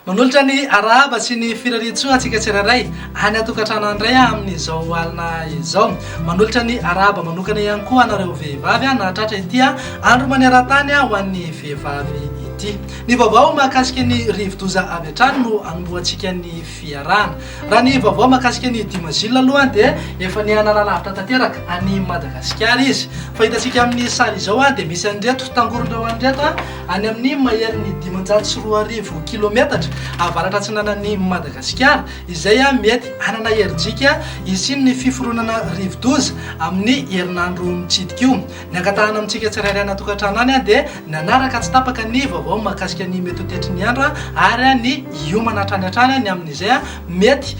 Manolotra ny arahaba sy ny firarian-tsoa antsika tsirairay any an-tokantrano any indray amin'izao alina izao. Manolotra ny arahaba manokana ihany koa anareo vehivavy nahatratra ity andro maneran-tany ho an'ny vehivavy ity. Ny vaovao mahakasika ny rivodoza avy hatrany no anombohantsika ny fiarahana. Raha ny vaovao mahakasika an'i Dimazil aloha dia efa nihanana lavitra tanteraka any Madagasikara izy. Fa hitantsika amin'ny sary izao dia misy an'ireto tangoron'ireo any ireto any amin'ny maherin'ny dimanjato sy roa arivo kilometatra avaratra-atsinanan'i Madagasikara izay mety hanana herijika hisian'ny fiforonana rivodoza amin'ny herinandro mitsidika io. Ny angatahana amintsika tsirairay ana-tokantrano any dia ny hanaraka tsy tapaka ny vaovao mahakasika ny mety ho tetry ny andro ary ny hiomana hatrany hatrany ny amin'izay mety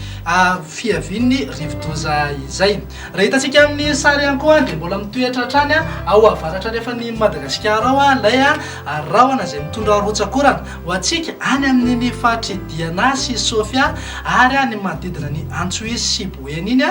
fiavian'ny rivodoza izay. Raha hitantsika amin'ny sary ihany koa dia mbola mitoetra hatrany ao avaratra andrefan'i Madagasikara ao ilay rahona izay mitondra rotsak'orana ho antsika any amin'ny ny faritr'i Diana sy Sofia ary ny manodidina ny Antsohihy sy Boeny iny.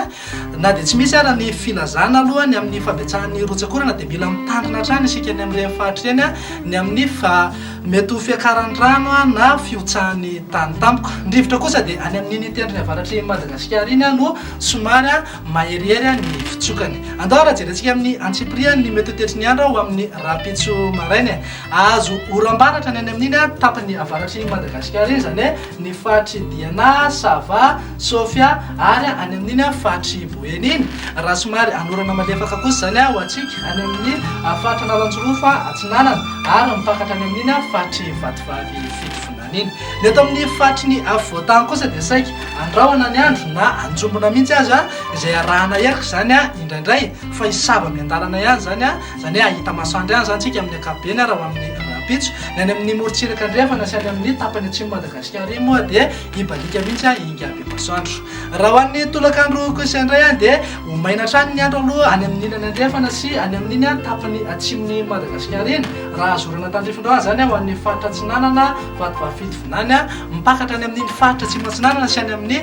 Na dia tsy misy ara ny filazana aloha ny amin'ny fabetsahan'ny rotsak'orana dia mila mitandrina hatrany isika any amin'ireny faritra ireny ny amin'ny fa mety ho fiakaran'ny rano na fihotsahan'ny tany tampoka. Ny rivotra kosa dia any amin'iny tendrony avaratr'i Madagasikara iny no somary maherihery ny fitsokany. Andao ary jerentsika amin'ny antsipiriany ny mety ho tetry ny andro ho amin'ny rahampitso maraina e. Hahazo oram-baratra ny any amin'iny tapany avaratr'i Madagasikara iny izany hoe ny faritr'i Diana, Sava, Sofia ary any amin'iny faritry Boeny iny, raha somary anorana malefaka kosa izany ho antsika any amin'ny faritra Analanjirofo atsinanana ary mipakatra any amin'iny faritry Vatovavy Fitovinany iny. Ny eto amin'ny faritry ny afovoan-tany kosa dia saika andrahona ny andro na anjombona mihitsy aza izay arahana heloka izany indraindray fa hisava miandalana ihany izany, izany hoe hahita masoandro ihany izany isika amin'ny ankapobeny raha ho amin'ny rahampitso. Ny any amin'ny morontsiraka andrefana sy any amin'ny tapany atsimon'i Madagasikara iny moa dia. Hibaliaka mihitsy an i Ingabe Masoandro. Raha ho an'ny tolakandro kosa indray an dia ho maina hatrany ny andro aloha any amin'ny ilany andrefana sy any amin'iny an tapany atsimon'i Madagasikara iny. Raha azo orana tandrifin-drano izany an ho an'ny faritra atsinanana, Vatovavy-Fito Vinany an, mipakatra any amin'iny faritra atsimo atsinanana sy any amin'ny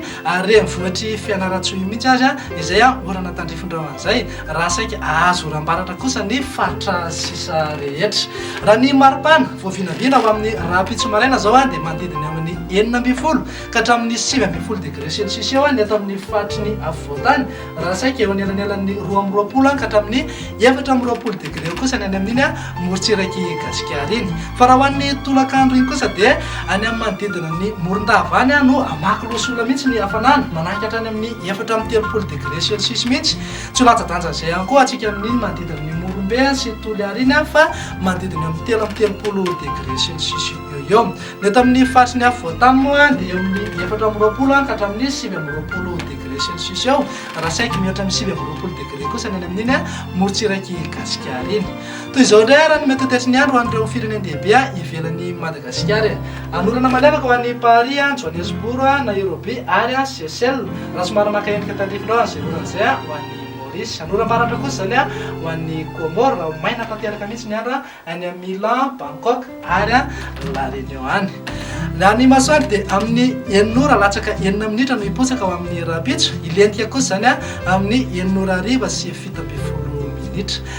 renivohitr'i Fianarantsoa iny mihitsy aza izay an orana tandrifin-drano an'izay. Raha saika azo oram-baratra kosa ny faritra sisa rehetra. Raha ny maripana vao vinavina ho amin'ny rahampitso maraina izao dia manodidina eo amin'ny enina ambin'ny folo ka hatramin'ny sivy ambin'ny folo degré celsius eo ny eto amin'ny faritry ny afovoantany, raha saika eo anelanelan'ny roa amby roapolo ka hatramin'ny efatra amby roapolo degré eo kosa ny any amin'iny morontsirak'i Gasikara iny. Fa raha ho an'ny tolakandro iny kosa dia any amin'ny manodidina ny Morondava any no hamaky loha sy ola mihitsy ny hafanana, manaky hatrany amin'ny efatra amby telopolo degré celsius mihitsy Tsy ho latsa-danjan'izay ihany koa hatsiaka amin'iny manodidina ny Morombe sy ny Toliara iny fa manodidina eo amin'ny telo amby telopolo degre sy ny sisa eo eo. Ny eto amin'ny faritry ny afovoantany moa dia eo amin'ny efatra amby roapolo ka hatramin'ny sivy amby roapolo degre sy ny sisa eo raha saiky mihoatra amin'ny sivy amby roapolo degre kosa ny any amin'iny morontsirak'i Gasikara iny. Toy izao indray ary no mety ho toetry ny andro ho an'ireo firenen-dehibe ivelan'i Madagasikara e. Hanorana malefaka ho an'i Paris, Johannesburg, Nairobi ary Seychelles, raha somary maka endrika tandrifinao an'izay orana izay, ho an'i Maurice. Hanorana maharatra kosa izany ho an'i Comores, raha ho maina tanteraka mihitsy ny andro any amin'ny Milan, Bangkok ary La Réunion any. Ny an'ny masoandro dia amin'ny enina ora latsaka enina minitra no hipotsaka ho amin'ny rahampitso, hilentika kosa izany amin'ny enina ora hariva sy fito ambin'ny folo minitra.